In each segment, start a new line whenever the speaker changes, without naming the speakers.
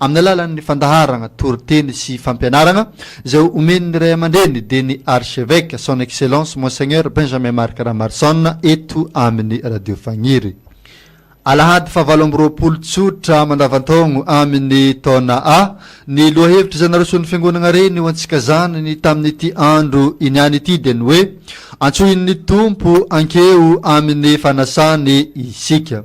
Amin'ny alalan'ny fandaharagna, toriteny sy fampianaragna izay omen'ny Ray aman-dReny dia ny Archeveque, Son Excellence Monseigneur Benjamin Marc Ramarson eto amin'ny Radio Fagniry. Alahady faha valo amby roapolo tsotra mandavan-taogno amin'ny taona A, ny lohahevitry izay naroson'ny Fiangonagna Reny ho antsika zanany tamin'ity andro iniany ity dia ny hoe, Antsohin'ny Tompo ankeo amin'ny fanasany isika.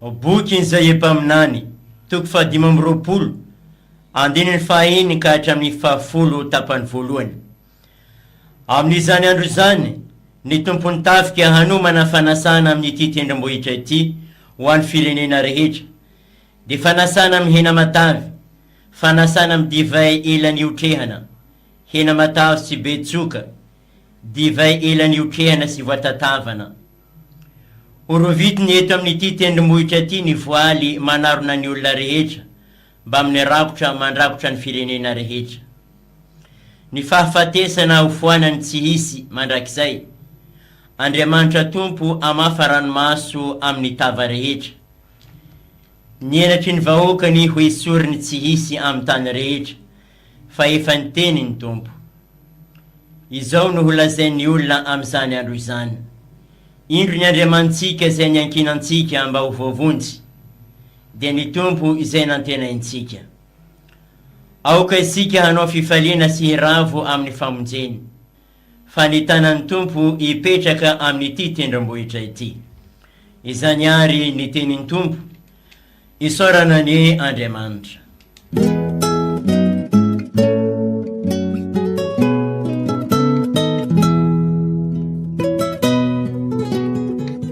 Ao bokin'izay Epaminany, toko fahadimy amby roapolo, andininy fahaeniny ka hatramin'ny fahafolo tapany voalohany. Amin'izany andro izany, ny Tompon'ny tafika hanomana fanasana amin'ity tendrombohitra ity ho an'ny firenena rehetra, dia fanasana amin'ny hena matavy, fanasana amin'ny divay ela nihotrehana, hena matavy tsy be tsoka, divay ela niokehana sy voatatavana. Horovitiny eto amin'ity tendrombohitra ity ny voaly manarona ny olona rehetra mbamin'ny rakotra mandrakotra ny firenena rehetra. Ny fahafatesana hofoanany tsy hisy mandrakizay. Andriamanitra Tompo hamafa ranomaso amin'ny tava rehetra. Ny henatry ny vahoakany hoesoriny tsy hisy amin'ny tany rehetra. Fa efa niteny ny Tompo. Izao no holazain'ny olona amin'izany andro izany, Indro ny Andriamanitsika izay niankinantsika mba ho voavonjy, dia ny Tompo izay nantenaintsika. Aoka isika hanao fifaliana sy hiravo amin'ny famonjeny, fa ny tanan'ny Tompo hipetraka amin'ity tendrombohitra ity. Izany àry ny tenin'ny Tompo, Isaorana anie Andriamanitra.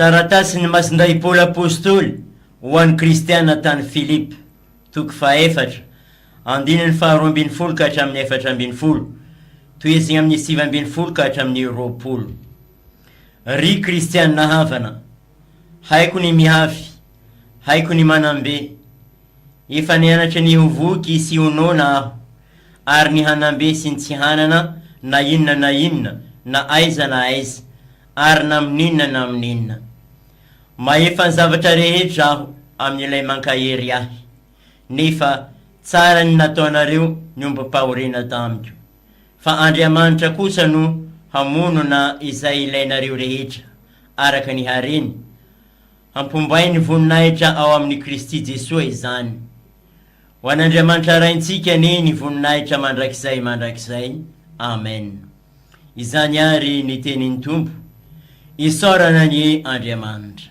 Taratasin'i Masindahy Paoly Apostoly ho an'ny Kristiana tany Filipa, toko fahaefatra, andininy faharoa ambin'ny folo ka hatramin'ny efatra ambin'ny folo, tohizigna amin'ny sivy ambin'ny folo ka hatramin'ny roapolo. Ry Kristiana havana, Haiko ny mihavy, haiko ny manam-be. Efa nianatra ny ho voky sy ho noana aho, ary ny hanam-be sy ny tsy hanana na inona na inona na aiza na aiza ary na amin'inona na amin'inona. Mahefa ny zavatra rehetra aho amin'Ilay mankahery ahy, nefa tsara ny nataonareo ny ombim-pahoriana tamiko. Fa Andriamanitra kosa no hamono na izay ilainareo rehetra, araka ny hareny. Hampombain'ny voninahitra ao amin'i Kristy Jesoa izany. Ho an'Andriamanitra Raintsika anie ny voninahitra mandrakizay mandrakizay. Amen. Izany àry ny tenin'ny Tompo. Isaorana anie Andriamanitra.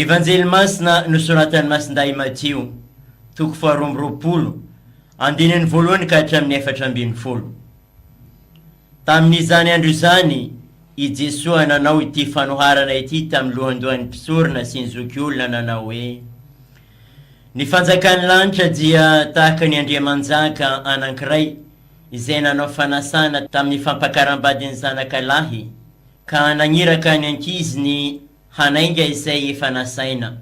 Evanjely Masina nosoratan'i Masindahy Matio, toko faharoa amby roapolo, andininy voalohany ka hatramin'ny efatra ambin'ny folo. Tamin'izany andro izany, i Jesoa nanao ity fanoharana ity tamin'ny lohandohan'ny mpisorona sy ny zokiolona nanao hoe, Ny fanjakan'ny lanitra dia tahaka ny andriamanjaka anankiray izay nanao fanasana tamin'ny fampakaram-badin'ny zanaka lahy ka naniraka ny ankiziny hanainga izay efa nasaina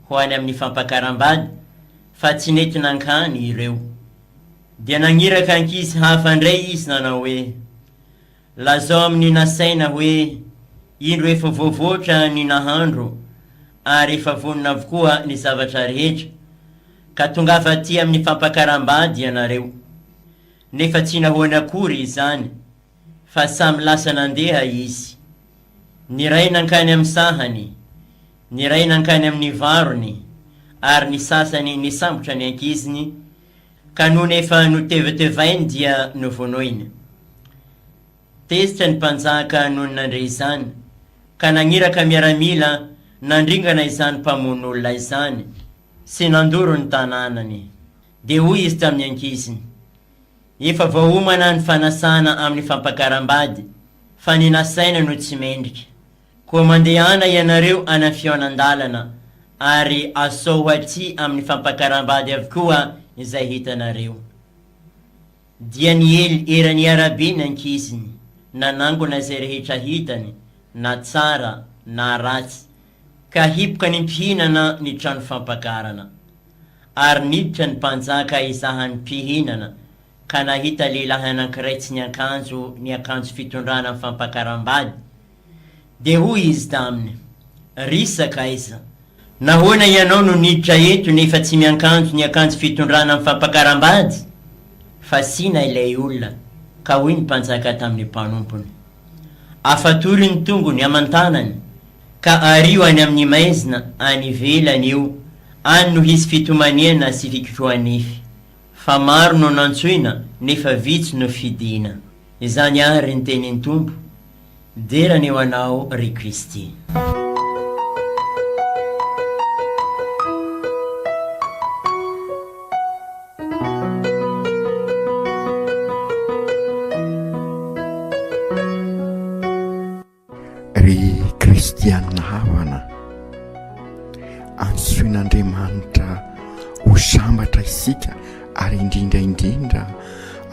ho any amin'ny fampakaram-bady fa tsy nety nankany ireo. Dia nagniraka ankizy hafa indray izy nanao hoe, Lazao amin'ny nasaina hoe, Indro efa voavoatra ny nahandro ary efa vonona avokoa ny zavatra rehetra, ka tongava aty amin'ny fampakaram-bady ianareo. Nefa tsy nahoany akory izany. fa samy lasa nandeha izy. Ny iray nankany amin'ny sahany, ny iray nankany amin'ny varony, ary ny sasany nisambotra ny ankiziny, ka nony efa notevetevainy dia novonoina. Tezitra ny mpanjaka nony nandre izany, ka nagniraka miaramila nandringana izany mpamono olona izany sy nandoro ny tanànany. Dia hoy izy tamin'ny ankiziny. Efa voaomana ny fanasana amin'ny fampakaram-bady fa ny nasaina no tsy mendrika. Koa mandehana ianareo any amin'ny fihaonan-dalana ary asao aty amin'ny fampakaram-bady avokoa izay hitanareo. Dia niely eran'ny arabe ny ankiziny, nanangona izay rehetra hitany, na tsara na ratsy, Ka hipoka ny mpihinana ny trano fampakarana. Ary niditra ny mpanjaka hizaha ny mpihinana, ka nahita lehilahy anankiray tsy niankanjo ny akanjo fitondrana amin'ny fampakaram-bady. Dia hoy izy taminy, Ry sakaiza! Nahoana ianao no niditra eto nefa tsy miankanjo ny akanjo fitondrana amin'ny fampakaram-bady? Fasiana ilay olona, ka hoy ny mpanjaka tamin'ny mpanompony, Afatory ny tongony aman-tanany. ka ario any amin'ny maizina any ivelany eo any no hisy fitomaniana sy fikotrohanify. Fa maro no nantsoina nefa vitsy no fidina. Izany ary ny tenin'ny Tompo. Dera ny ho anao ry Kristy.
Ry kristianina havana, antsoin'Andriamanitra ho sambatra isika ary indrindra indrindra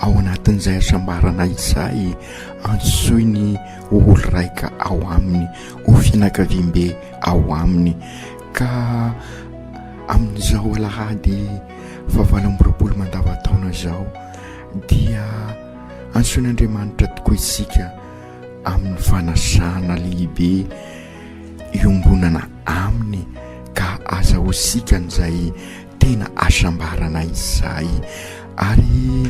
ao anatin'izay hasambarana izay antsoiny ho olon-draika ao aminy, ho fianakaviambe ao aminy ka amin'izao alahady fahavalo amby roapolo mandavantaona izao dia antsoin'Andriamanitra tokoa isika amin'ny fanasana lehibe iombonana aminy ka aza ho sikan'izay tena hasambarana izay ary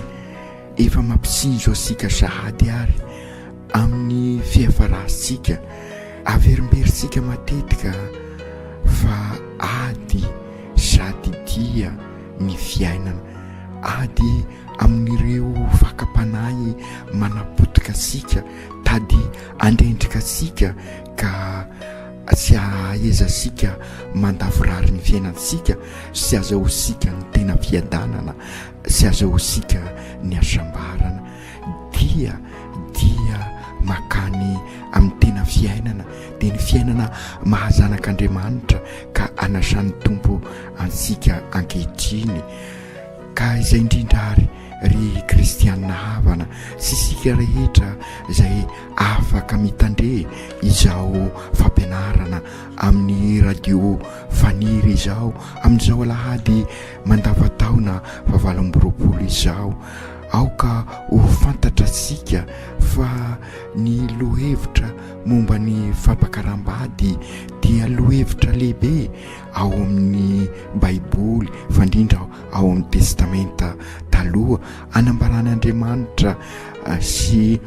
efa mampisinjo antsika sahady ary amin'ny fiafarantsika averimberitsika matetika fa ady sady dia ny fiainana ady amin'ireo fakam-panahy manapotika antsika, tady handrendrika antsika ka tsy hahaeza antsika mandavorary ny fiainantsika sy azahoantsika ny tena fiadanana sy azahoantsika ny hasambarana dia dia makany amin'ny tena fiainana dia ny fiainana mahazanak'Andriamanitra ka anasan'ny Tompo antsika ankehitriny. Ka izay indrindra ary ry kristianina havana sy isika rehetra izay afaka mitandre izao fampianarana amin'ny radio Faniry izao amin'izao alahady mandavan-taona fahavalo amby roapolo izao, aoka ho fantatratsika fa ny lohevitra momba ny fampakaram-bady dia lohevitra lehibe ao amin'ny Baiboly fa indrindra ao amin'ny Testamenta Taloha, anambaran'Andriamanitra sy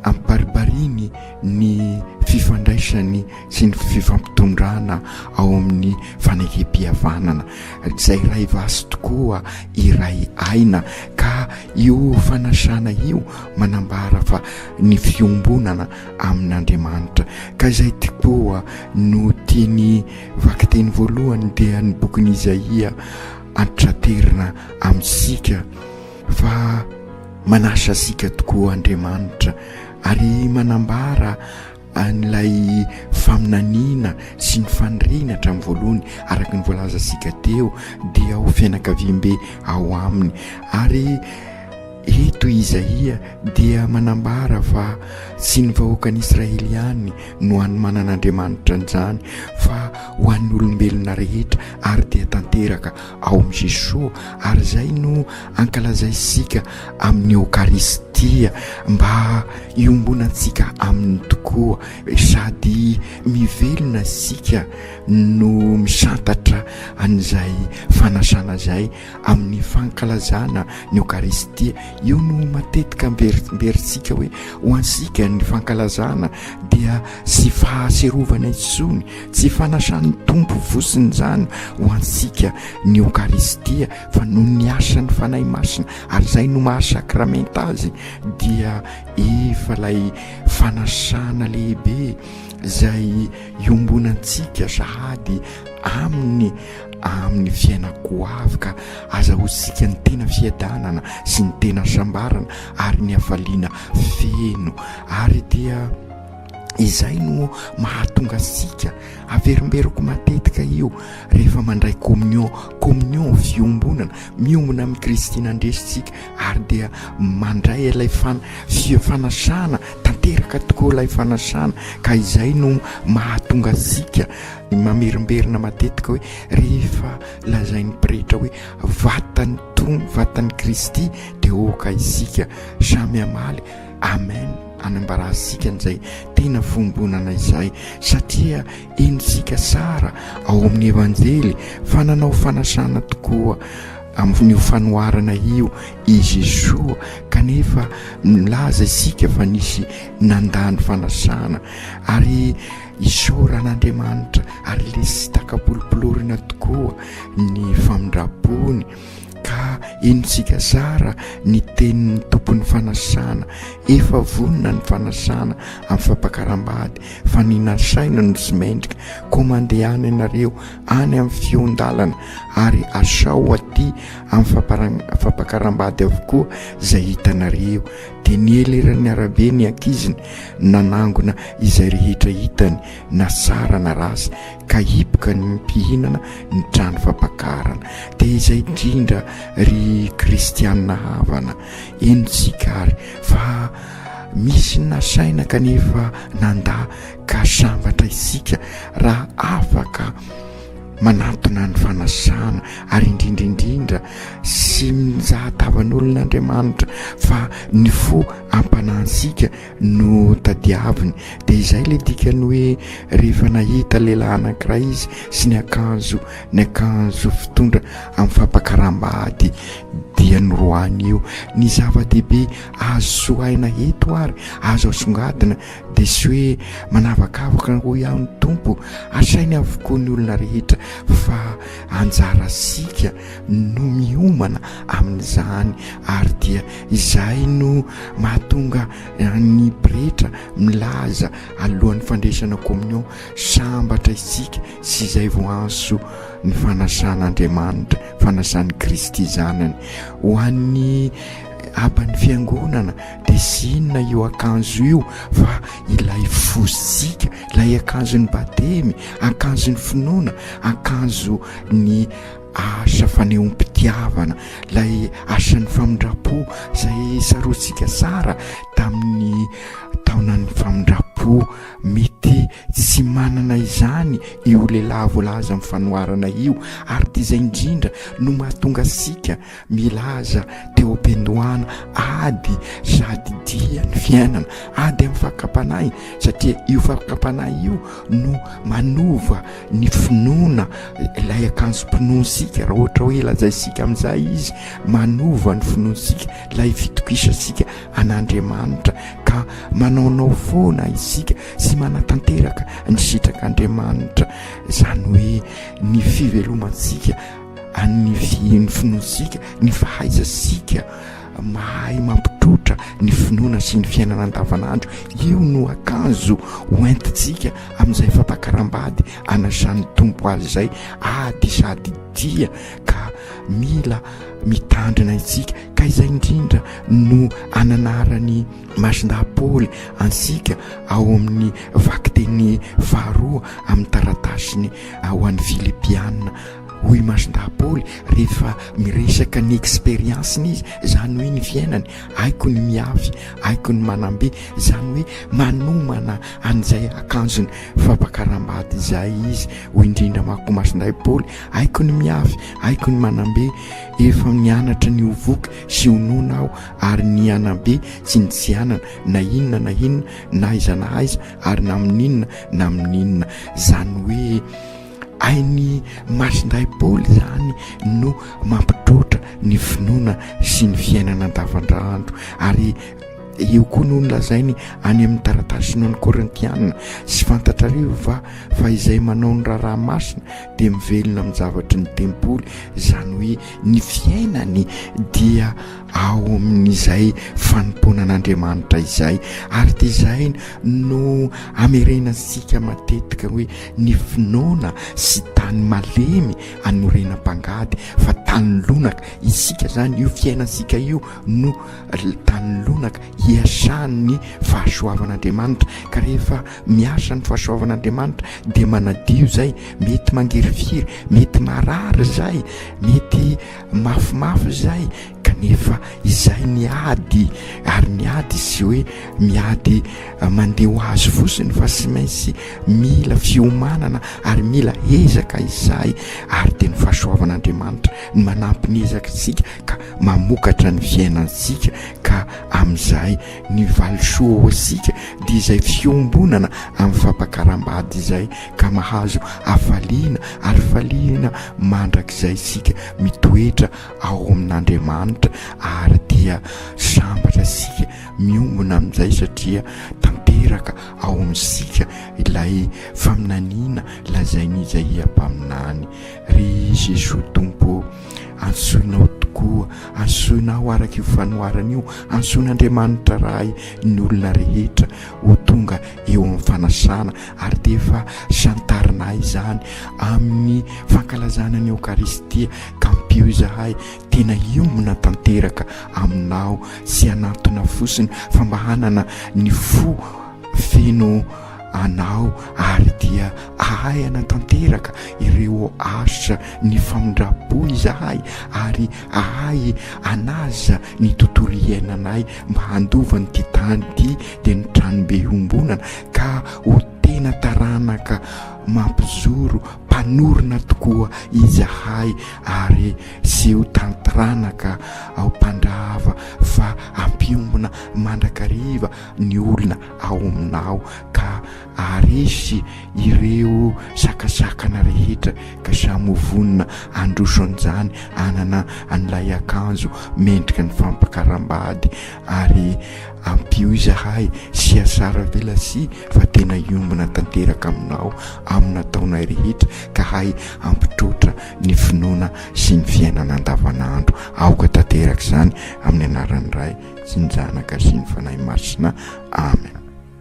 ampibaribariany ny fifandraisany sy ny fifampitondrana ao amin'ny fanekempihavanana. Izay iray vaso tokoa, iray aina. Ka io fanasana io manambara fa ny fiombonana amin'Andriamanitra. Ka izay tokoa no tiany. Vakiteny voalohany dia ny bokin'i Izaia antitraterina amintsika fa manasa antsika tokoa Andriamanitra ary manambara an'ilay faminaniana sy ny faniriana hatramin'ny voalohany araka ny voalazantsika teo dia ho fianakaviambe ao aminy ary Eto i Izaia dia manambara fa tsy ny vahoakan'Israely ihany no hanomanan'Andriamanitra an'izany fa ho an'ny olombelona rehetra ary dia tanteraka ao amin'i Jesoa ary izay no ankalazaintsika amin'ny Eokaristia mba hiombonantsika Aminy tokoa sady mivelona isika no misantatra an'izay fanasana izay Amin'ny fankalazana ny Eokaristia, io no matetika amberimberitsika hoe ho antsika ny fankalazana dia tsy fahatsiarovana intsony, tsy fanasan'ny Tompo votsiny izany ho antsika ny Eokaristia fa noho ny asan'ny Fanahy Masina ary izay no maha sakramenta azy dia efa ilay fanasana lehibe izay iombonantsika sahady aminy amin'ny fiainako ho avy ka aza ho sika ny tena fiadanana sy ny tena sambarana ary ny hafaliana feno ary dia izay no mahatonga sika averimberiko matetika io rehefa mandray communion communion fiombonana miombona amin'i kristy nandresintsika ary dia mandray ilay fana fio fanasana tanteraka tokoa ilay fanasana ka izay no mahatonga sika Mamerimberina matetika hoe rehefa lazain'ny pretra hoe vatan'ny tony, vatan'i Kristy dia aoka isika samy hamaly amen hanambarantsika an'izay tena fiombonana izay satria henontsika sara ao amin'ny evanjely fa nanao fanasana tokoa amin'io fanoharana io i Jesoa kanefa milaza isika fa nisy nandany fanasana ary Isaorana an'Andriamanitra ary lesy takabolopolorina tokoa ny famindram-pony ka henontsika zara ny tenin'ny Tompon'ny fanasana. Efa vonona ny fanasana amin'ny fampakaram-bady fa ny nasaina no tsy mendrika. Koa mandeha any ianareo any amin'ny fehon-dalana ary asao aty amin'ny fampakaram-bady avokoa izay hitanareo. dia niely eran'ny arabe ny ankiziny nanangona izay rehetra hitany na sara na ratsy ka hipoka ny mpihinana ny trano fampakarana dia izay indrindra ry kristianina havana eny tsika ary fa misy ny nasaina kanefa nanda ka sambatra isika raha afaka manantona ny fanasana ary indrindra indrindra sy mizahatavan'olon'Andriamanitra fa ny fo ampanantsika no tadiaviny dia izay ilay dikany hoe rehefa nahita lehilahy anankiray izy sy ny akanjo ny akanjo fitondra amin'ny fampakaram-bady dia noroahany io ny zava-dehibe azo sohaina eto ary azo asongadina dia sy hoe manavakavaka hoy aho ny Tompo, asainy avokoa ny olona rehetra fa anjarasika no miomana amin'izany ary dia izay no mahatonga ny pretra milaza alohan'ny fandresana communion sambatra isika sy izay vao anso ny fanasan'Andriamanitra, fanasan'i Kristy zanany ho an'ny aban'ny fiangonana. Dia sy inona io akanjo io fa ilay fosika, ilay akanjon'ny batemy, akanjon'ny finoana, akanjo ny asa fanehoam-pitiavana, ilay asan'ny famindram-po izay saroantsika tsara tamin'ny taonan'ny famindram-po. Mety tsy manana izany io lehilahy voalaza amin'ny fanoharana io ary dia izay indrindra no mahatonga antsika Milaza teom-piandohana ady sady dia ny fiainana, ady amin'ny fakam-panahy, satria io fakam-panahy io no manova ny finoana, ilay akanjom-pinoantsika, raha ohatra hoe lazaintsika amin'izay izy, manova ny finoantsika, ilay fitokisantsika an'Andriamanitra, ka manaonao foana isika sy manatanteraka ny sitrak'Andriamanitra, izany hoe ny fivelomantsika. Anivihiny finoantsika ny fahaizasika mahay mampitrotra ny finoana sy ny fiainana andavanandro. Io no akanjo ho entintsika amin'izay fampakaram-bady anasan'ny Tompo azy izay ady sady dia ka mila mitandrina isika, ka izay indrindra no ananaran'i Masindahy Paoly antsika ao amin'ny vakiteny faharoa amin'ny taratasiny ho an'ny Filipiana. Hoy i Masondahy Paoly rehefa miresaka ny expérience-ny izy, izany hoe ny fiainany, Haiko ny miafy, haiko ny manam-be, izany hoe manomana an'izay akanjony fampakaram-bady izay izy. Hoy indrindra manko i Masondahy Paoly, Haiko ny miafy, haiko ny manam-be, efa nianatra ny ho voky sy ho noana aho, ary ny hanabe tsy nitsianana na inona na inona na aiza na aiza ary na amin'inona na amin'inona, izany hoe. Ain'ny masindahy Paoly izany no mampidrotra ny finoana sy ny fiainana andavandraandro ary io koa no nolazainy any amin'ny taratasiny ho an'ny Korintiana, Tsy fantatrareo va fa izay manao ny raharaha masina dia mivelona amin'ny zavatry ny tempoly, izany hoe ny fiainany dia ao amin'izay fanompoana an'Andriamanitra izay, ary dia izay no hamerenantsika matetika hoe. Ny finoana sy tany malemy anorenam-pangady fa tany lonaka isika zany io fiainantsika io no tany lonaka hiasan'ny fahasoavan'Andriamanitra ka rehefa miasa ny fahasoavan'Andriamanitra dia manadio zay mety mangirifiry mety marary zay mety mafimafy zay Kanefa izay miady ary miady sy hoe miady mandeha ho azy fotsiny fa tsy maintsy mila fiomanana ary mila ezaka izahay ary dia ny fahasoavan'Andriamanitra ny manampy ny ezakitsika ka mamokatra ny fiainantsika ka amin'izay ny valisoa ho antsika dia izay fiombonana amin'ny fampakaram-bady izay ka mahazo hafaliana ary faliana mandrakizay isika mitoetra ao amin'Andriamanitra ary dia sambatra isika miombona amin'izay satria tanteraka ao amintsika ilay faminaniana lazain'Izaia mpaminany, Ry Jesoa Tompo ô, antsoinao tokoa, antsoina aho araka io fanoharana io, antsoin'Andriamanitra Ray ny olona rehetra ho tonga eo amin'ny fanasana ary dia efa santarinay izany amin'ny fankalazana ny Eokaristia. Tampio izahay tena hiombona tanteraka aminao sy hanantona fosiny fa mba hanana ny fo feno anao ary dia ahay hanatanteraka ireo asa ny famindram-po izahay ary ahay hanaja ny tontolo iainanay mba handova an'ity tany ity dia ny tranombe iombonana ka ho tena taranaka mampizoro Mpanorina tokoa izahay ary tsy ho tan-tranaka ao mpandrava fa hampiombona mandrakariva ny olona ao aminao ka haharesy ireo sakasakana rehetra ka samy ho vonona handroso an'izany hanana an'ilay akanjo mendrika ny fampakaram-bady ary ampio izahay sy asara velasia fa tena hiombona tanteraka aminao amina taonay rehetra ka hay hampitroatra ny finoana sy ny fiainana andavanandro aoka tanteraka izany amin'ny anaran'ny Ray sy ny Zanaka sy ny Fanahy Masina Amen.